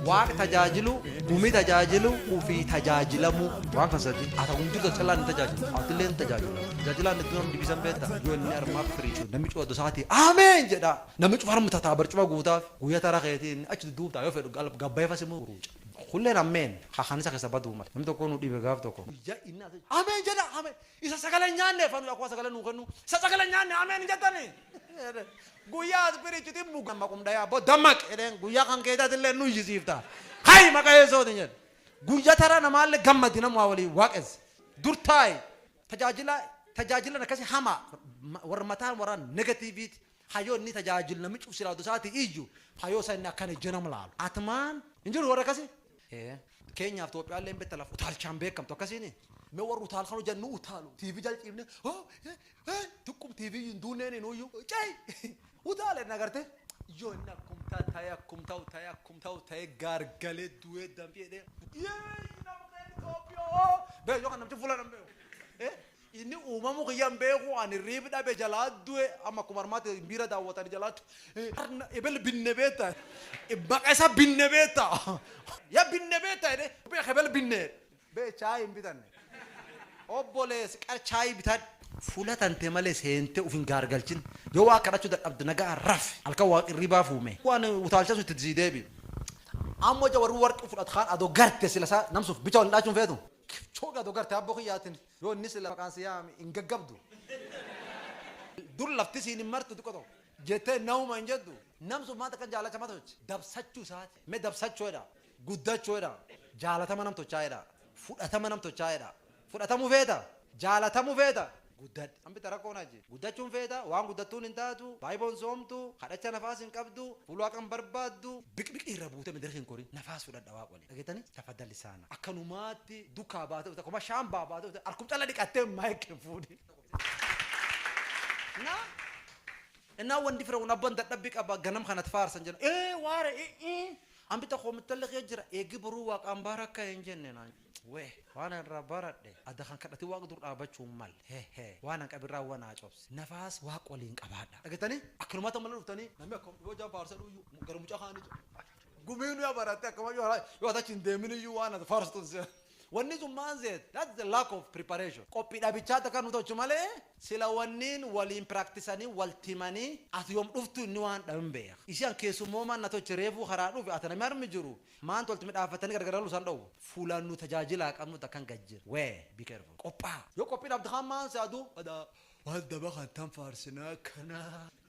Waaq tajaajiluu, gumii tajaajiluu, ufii tajaajilamuu. Waan kan sadii. Ata gumtii tajaajilaa ni tajaajilu. Ati illee ni tajaajilu. Tajaajilaa ni turan dibisan beekta. Yoo inni armaaf firiichu. Namni cufa dosaati. Ameen jedha. Namni cufa harmu tataa barcuma guutaaf. Guyyaa tara keetii inni achi dudduubtaa yoo fedhu galab gabbaefa simu ruuca. Kulleen ammeen. Ka kanisa kessa baduu male. Namni tokko nu dhibe gaaf tokko. Guyyaa inni ati. Ameen jedha. Ameen. Isa sagalee nyaanne fanu akkuma sagalee nuu kennu. Isa sagalee nyaanne ameen hin jettani. Guyyaa as birichi dhimmu dammaqum dhayaa bo dammaqi jedheen guyyaa kan keetatillee nu iyyisiifta ka'i maqa yeesootiin jedhe guyya tara namaalle gammadi namu haa walii waaqessi dur taa'i tajaajila tajaajilan akkasi hamaa warra mataan warra negatiiviiti hayoo inni tajaajil nami cuf silaatu isaati iyyu hayoo isa inni akkan ejje nam laalu atmaan hin jiru warra akkasi Ee. Keenyaaf Itoophiyaalleen betta laf utaalchaan beekamtu akkasiini? Me warri utaal kan hojjan nu utaalu TV jal ciifne hoo hee hee tuqqum TV iyyu hin duunneeni nuuyyu cay utaala jenna garte yoo inni akkum ta taye akkum ta'u taye akkum ta'u taye gaargale du'ee danfi jedhee yeeyyi nama keenya Itoophiyaa hoo bee yoo kan namchi fuula nan beeku ee Inni uumamu kiyya hin beeku ani rib dhabe jalaa due amma akkuma armaati miira daawwatan jalaatti arna ebel binne beetta maqa isa binne beetta ya binne beetta jedhe beek ebel binne be chaay hin bitanne obbolees qar chaay bitadhu fula tante male seente ufin gaargalchin yo waa kadhachu dadhabde nagaa raf alka waa qirribaa fuume waan utaalchasu itti sii deebi ammo ja warri warqi fudhat kaan ado garte sila sa namsuf bicha wal hin dhaachun feetu. Kipchoge do garte abbo kiyyatin yo inni sila maqaan si yaame hin gaggabdu. Dur lafti siin hin martu xiqqo tokko. Jettee nauma hin jettu. Nam sun maal takka jaalacha mata sochi. Dabsachu isaati. Me dabsachu jedha. Guddachu jedha. Jaalatama nam tochaa jedha. Fudhatama nam tochaa jedha. Fudhatamu feeta? Jaalatamu feeta? Guddadhe. An bita rakkoon achi. Guddachuun feeta, waan guddattuun hin taatu, Baayiboon soomtu, kadhacha nafaas hin qabdu, fuul Waaqa hin barbaaddu. Biqbiqi irra buute mediraki hin korin nafaas fudhadha waaq waliin dhagetani tafadda lisaana akkanumaatti dukkaa baate dhufte akkuma shaambaa baate dhufte harkum calla dhiqattee mic hin fuudhin na innaa wandi firawun abban dadhabbi qaba ganam kanat faarsan jenna ee waare i i an bitta koo mittalli kee jira eeggi boruu waaqaan baara akka hin jenne naan Wwe waan an irraa baradhe adda kan kadhatin waaq dur dhaabachuu hin malle he he waan an qabin raawwa naa cobse nafaas waaq waliin qabaadha dhagetani akkanumati ammalle dhuftani namni akkam yoo ijaan faarsa jedhu iyyuu gara mucaa kaani jedhu gumiinu yoo baratte akkuma yoo yoo ati achi hin deemin iyyuu waan ati faarstun si wanni sun maan seete that's the lack of preparation qophii dhabichaa takka nu tolchu malee sila wanniin waliin practisanii walti himanii ati yoom dhuftu inni waan dhabe hin beeka ishii an keessummoomaan na tolche reefuu karaa dhufe ati namni harmi jiru Maantu walti midhaafatani gargaralu isaan dhowwu? Fuulaan nu tajaajilaa qabnutu akkan gad jir wee be careful. Qophaa'a! Yoo qophii dhabde kaan maan si aduu adaa waal daba kan tan faarsina akkana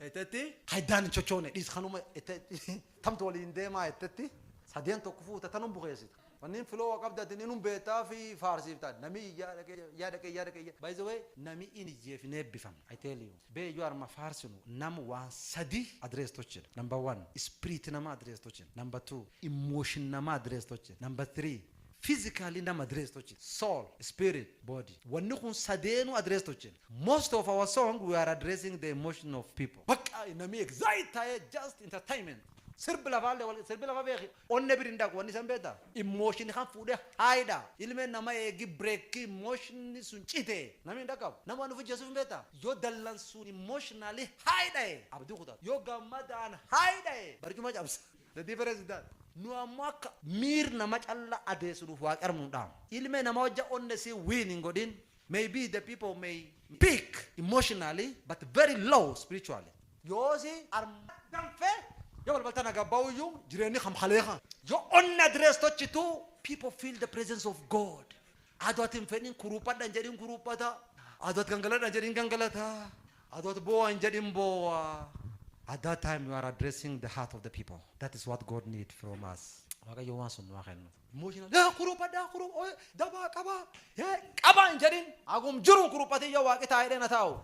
jetetti ka iddaan hin chochoone dhiis kanuma jetetti tamtu waliin deemaa jettetti sadeen tokko fuuta tanum bukeessita. Wanniin flow qabdi ati inum beettaa fi faarsiifta nami iyyaa dhaqee iyyaa dhaqee iyyaa dhaqee iyyaa by the way nami in iyyee fi hin eebbifamne I tell you. Bee yoo arma faarsinu nam waan sadii address tochina number one ispiriiti nama address tochina number two emotion nama address tochina number three physically nama address tochina soul spirit body wanni kun sadeenu address tochina most of our song we are addressing the emotion of people baqqa namii excite taa'ee just entertainment sirbi lafaallee wal sirbi lafa beeki Onne bir hin dhaqu wanni san beeta emotion kan fuudhe high dha ilme nama eegi break emotion sun cite nami hin dhaqabu nama waan ufi jeesuf hin beeta yoo dallansuun emotionally high dhaye abdi kutata yoo gammadaan high dhaye barcuma cabsa the difference is that nu ammo akka miir nama calla adeessu nuuf waaqi armu nu dhaama ilme nama hojja onne si win hin godhin May be the people may peak emotionally but very low spiritually. Yoosi arma danfe yo balbalta naga bauyu jireni kam kale kan. Yo onne address tochitu people feel the presence of God. Ado ati hin fedhin kuruphadha hin jedhin kuruphata. Ado ati gangaladha hin jedhin gangalata. Ado ati bowa hin jedhin bowa. At that time you are addressing the heart of the people. That is what God need from us. Waaqayyo waan sun nu haa kennu. Mootiin yaa kuruphadhaa kurup oye dabaa qabaa hee qabaa hin jedhin hagum jiruun kuruphatii yoo waaqi taa'ee dheena taa'u.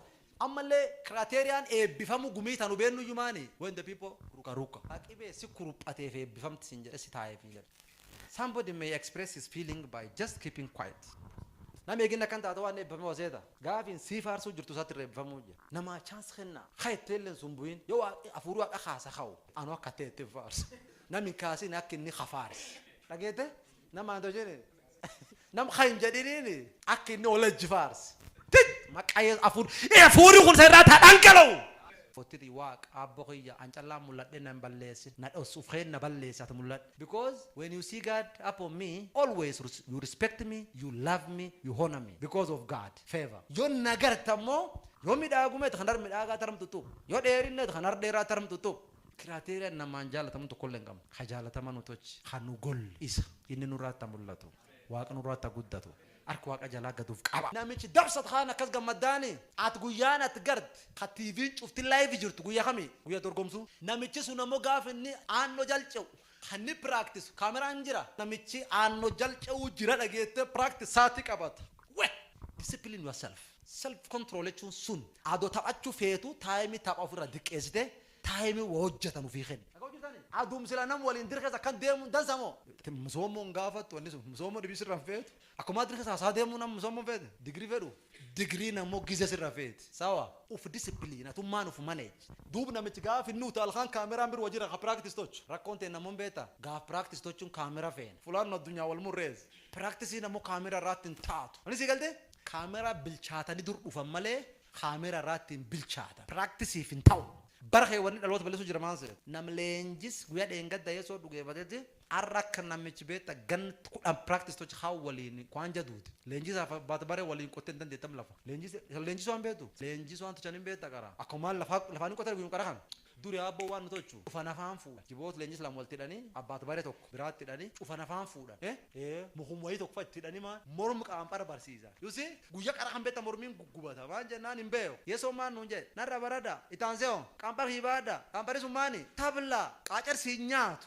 Ammallee kiraateeriyaan eebbifamuu gumii tanu beennu iyyuu maani when the people ruka ruka. Ka qibee si kuruphateef eebbifamti sin jedhe si taa'eef hin jedhu. Somebody may express his feeling by just keeping quiet. Nami eegin akkan taatu waan eebbifame hoo seeta. Gaafiin sii faarsuu jirtu isaatti irra eebbifamuu jira. Namaa chance kennaa. Ka itteellee hin sumbu'in. Yoo waaqi hafuuri waaqa kaasa ka'u. Anu akka ta'e ittin faarsa. Nam hin kaasini akka inni ka faarse. Dhageette? Namaan too jedhe. Nam ka hin jedhiniini akka inni ol ejji faarse. Tij! Maqaa Yesus afuur afuuri kun isa irraati haa dhangala'u. Fottiti Waaq aabbo kiyya an callaan mul'adhe na hin balleessin. Na dhossuuf keen na balleesse ati mul'adhe. Because when you see God upon me always you respect me, you love me, you honor me because of God. Feeva. Yo na garte ammoo, yo midhaagume kan har midhaagaa tarm xuxxu, yo dheerinne kan har dheeraa tarm xuxxu. Kiraateeriyaa namaan jaalatamu tokkolle hin qabnu. Ka jaalatamaa nu tolche, ka nu golle isa. Inni nurraatti ha mullatu. Waaqa nurraatti ha guddatu. Harka Waaqa jalaa gad uf qaba. Namichi dabsatu kaan akkas gammaddaani? Ati guyyaan ati garte, ka TVn cufti live jirtu guyya kami? Guyya dorgomsuu. Namichi sun ammoo gaafa inni aannoo jal ce'u, Kan ni practice cameraan jira. Namichi aanno jal ce'uu jira dhageette practice saati qabata. Weh! Discipline yourself. Self control jechuun sun. Ado taphachu feetu time tapha ofirra diqqeessite time wa hojjetan ufii kenni. Dhaga'u jirtani? Adum sila nam waliin dir keessa akkan deemun dansa moo? Msoomoon gaafattu wanni sun. Msoomoo dhibii sirra hin feetu. Akumaa dirsa saa saa demuu namuu sammun feete degree fedhu degree na mo gize sirra feeti sawa. Uf discipline atummaan uf manage. Duub namich gaaf inni utaal kaan camera bir wajira ha practice tochu rakkon teenna mom beeta gaaf practice tochun camera feena fulaan nu addunyaa wal murrees practice na mo camera irraatti hin taatu ani sii galtee? Camera bilchaatani dur dhufan malee camera irraatti hin bilchaatan practice'f hin ta'u bara kee wanni dhaloota ballesu jira maan seeta? Nam leenjis guya dheengadda yesoo dhugeefateti. Arra akka namichi beetta gann kudhan practice tochi kaan waliin kwaan jaduuti. Leenjisa fa baata bare waliin qotte hin dandeettam lafa. Leenjisa isa leenjisu waan beetu. Leenjisu waan tochan hin beetta qara. Akkuma maan lafa lafaan hin qotan guyum qara kan. Duri aabbo waan nu tochu cufa nafaan fuudha. Jiboot leenjisa lama walti hidhani abbaat bare tokko biraatti hidhani cufa nafaan fuudhan. E. Ee mukum wayii tokko fa itti hidhani maan morm qaban qara barsiisan. You see guyya qara kan beetta mormiin guggubata maan jennaan hin beeku. Yesoon maan nuun jedhe narra barada. Itti aansee hoo? Qanpha fi baadha. Qanphari sun maani? Tabla! Qaacar siin nyaatu.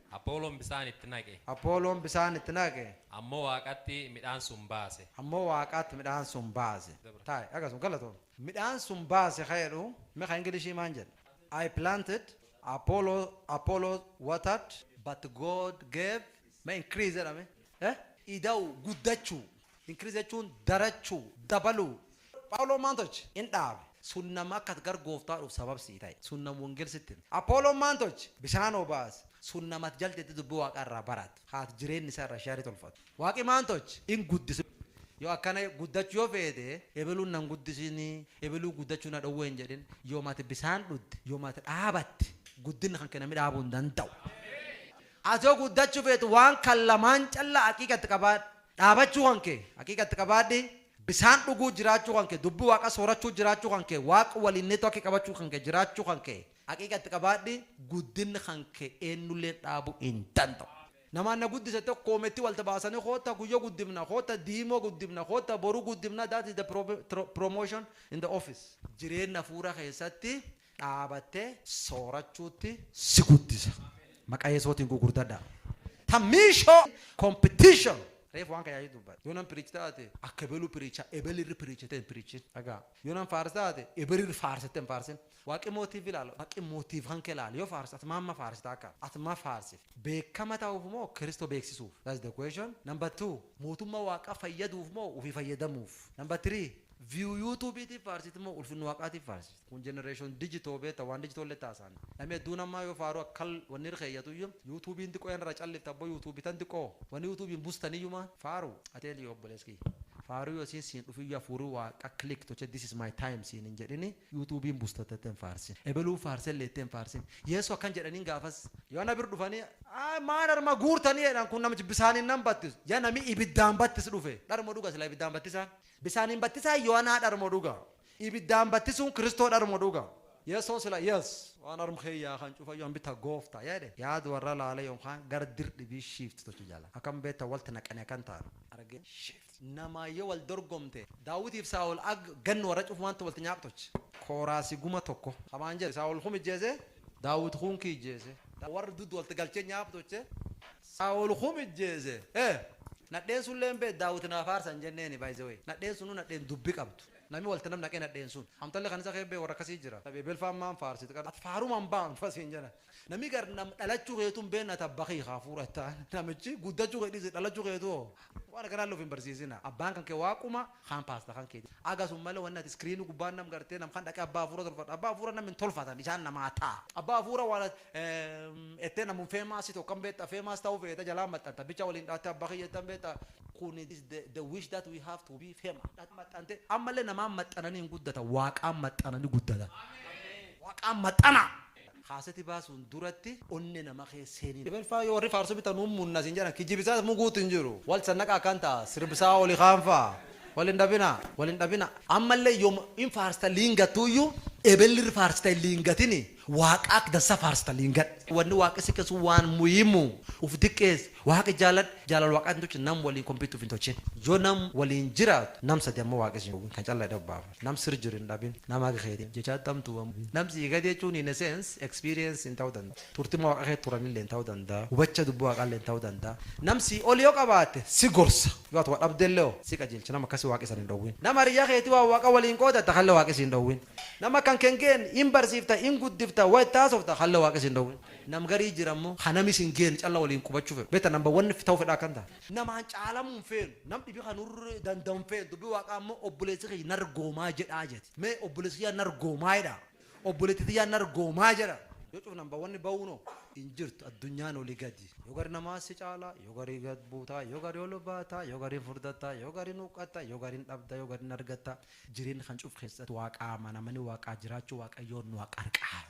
Apooloon bisaan itti naqe. Apooloon bisaan itti naqe. Ammoo Waaqatti midhaan sun baase. Ammoo Waaqatti midhaan sun baase. Taa'i akkasuma. Galatoomi. Midhaan sun baase ka jedhu mee ka Englishii maan jedha? I planted, Apollo, Apollos watered, but God gave, mee increase jedha mee. Eh? Ida'uu, guddachuu. Increase jechuun darachuu, dabaluu. Phaawuloon maal tolche? In dhaabe. Sun nama akka gar Gooftaa dhuuf sabab sii ta'e. Sun nam wongel sitti hime. Aphooloon maal tolche? Bishaan obaase. Sun nama at jaltetti dubbi Waaqaa irraa baratu, ka at jireenni isaa irra share tolfatu. Waaqi maal tolche? In guddise. Yoo akkana guddachu yoo feete, ebeluun nan guddisini, ebeluu guddachu na dhowwe hin jedhin. Yoom ati bisaan dhudde, yoom ati dhaabatte, guddinni kanke nami dhaabu hin danda'u. Ati yoo guddachuu feetu waan kan lamaan calla aqiiqa itti qabaadhu. Dhaabachuu kan kee aqiiqa itti qabaadhi, bisaan dhuguu jiraachuu kan kee, dubbi waaqa soorachuu jiraachuu kan kee, waaq waliin network qabachuu kan kee jiraachuu kan kee aqiiqa itti qabaadhi, guddinni kan kee eennulleen dhaabu hin danda'u. Namaan na guddisa jettee koometti walta baasani kootta guyya guddifna, kootta diimoo guddifna, kootta boru guddifna that is the promotion in the office. Jireenna afuura keessatti dhaabattee soorachuutti si guddisa. Maqa Yesuutiin gugurdadhaa. Ta miishoo competition. Reef waan kayaayii dubbadha. Yoo nan piriich taate akka ebelu piriicha ebel irri piriichitee hin piriichin. Dhagaa. Yoo nan faarsa taate ebel irri faarsitee hin faarsin. Waaqi mootiif ilaala. Waaqi mootiif kan kee ilaala. Yoo faarsa ati maamma faarsita akka. Ati ma faarsif. Beekama ta'uuf moo Kiristoo beeksisuuf? That's the question. Number two. Mootumma waaqa fayyaduuf moo ufii fayyadamuuf? Number three. View YouTube tiif faarsit moo ulfinna waaqaatiif faarsit? Kun generation digital beeta waan digital letti haasaan nami hedduun ammaa yoo faaruu akkan wanni irra keeyyatuyyu yutubiin xiqqoo irra callifti abboo yutubi tan xiqqoo wanni yutubiin bustaniyyuu maa faaru ateenti yoo obbolees kiyya faaruu yoo isiin siin dhufiyyu hafuuri waaqa click toche this is my time siin hin jedhini yutubiin busta tette hin faarsin ebeluun faarsellee jettee hin faarsin yeesu akkan jedhaniin gaafas yoo ana bir dhufanii ayi maa dharma guurtanii jedhan kun namichi bisaaniin nam battisu ya nami ibiddaan battis dhufe dharmo dhuga silaa ibiddaan battisaan Bisaaniin battisaan yohanaadharmo dhuga? Ibiddaan battisuun kiristoodharmo dhuga? Yesoo sila yes waan arm kee yaa kan cufa yohan bita goofta yaa jedhe yaad warra laale yonkaan gar dir dhibii shift tochi jala akam beetta walti naqani akan taanu arge shift namaa yo wal dorgomte daawitiif saa'ol ag gann warra cufumaanti walti nyaaq tochi kooraasi guma tokko kamaan jedhe saa'ol kum ijjeese Daawit kun kii ijjeese. Warri dud walti galchee nyaap toche. Saa'ol kum ijjeese. He! Nadheen sulleen bee Daawit naa faarsa hin jenneeni by the way. Nadheen sunuu nadheen dubbi qabdu. Nami walti nam naqee nadheen sun. Amtalle kanisa kee bee warra akkasii jira. Tabee belfaan maan faarsit qar. Ati faaruma hin baamtu fa siin jena. Nami gar nam dhalachu keetu hin beenne ati abba kiyya kaa fuudhu etta namichi guddachu kee dhisi dhalachu keetu hoo. Waan akkanaalle uf hin barsiisina. Abbaan kanke Waaquma. kaan pasta kan keti aga sun male wani ati screen guba nam garte nam kan dhaqe abba afura tolfadhu abba afura nam hin tolfatan isan nama ta, abba afura wan ati ete namun famous toka hin beta famous tau feta jala maxanta bicha walin dhate abba kiya jeta hin beta kun is the the wish that we have to be famous dhate maxante amale naman maxanani hin gudatan waqan maxanani gudatan waqan maxana. Kaaseti baasuun duratti onne nama keessa seenii. Ebelfaa yoo warri faarsu bitan nuun munna siin jedhan kijibisaas muguutu hin jiru. Wal sannaqa akkan ta'a sirbsaa oli kaan fa'a. Wal hin dhabina. Wal hin dhabina. Ammallee yoom hin faarsta liin gattuuyyuu ebelli irri faarsta hin liin gatini waaqa akk dansa faarsta liin gadhu. Wanni waaqi si kessu waan muhimu. Uf diqqeessi. Waaqi jaaladhu. Jaalal waaqaatiin tolchi nam waliin compete uf hin tolchin. Yoo nam waliin jiraattu nam sadi amma waaqi siin hin dhoowwin kan calla jedhee uf baafadhu. Nam sir jiru hin dhabin. Nama akka keetif jecha attamtu waan bu'in. Nam sii gadi jechuun in a sense, experience in ta'u danda. Turtima waqa keet turanilleen ta'u danda. Hubacha dubbi waaqaalleen ta'u danda. Nam sii oli yoo qabaatte si gorsa. Yoo ati wa dhabdelle hoo? Si qajeelcha. Nam akkasi waaqi san hin dhowwin. Nam hariyya keeti waan waaqa waliin qoodatta kalle waaqi si hin dhowwin. Nam akka hanke hin geenn hin barsiifta, hin guddifta, wa itti haasofta kalle waaqi si hin dhowwin. Nam garii jira ammo ka nam is hin geenn calla waliin qubachu fedhu. Betta number one ta'u fedha akkan ta. Namaan caalamuu hin feenu. Nam dhibi ka nu irra dandau hin feenu. Dubbi Waaqaa ammo, Obboleessi kiyya na argoomaa jedhaa jeti. Me, Obboleessi kiyya na argoomaa jedhaa. Obboleetti tiyya na argoomaa jedha. Yo cufnaan ba wanni bauun ho? Hin jirtu. Addunyaan oli gadi. Yo gari namaa si caala, yo gari gad buuta, yo gari ol baata, yo gari furdatta, yo gari hin huqqatta, yo gari hin dhabda, yo gari hin argatta. Jireenna kan cufu keessatti Waaqa amanamani Waaqaa jiraachu Waaqayyoon nu ha qarqaaru.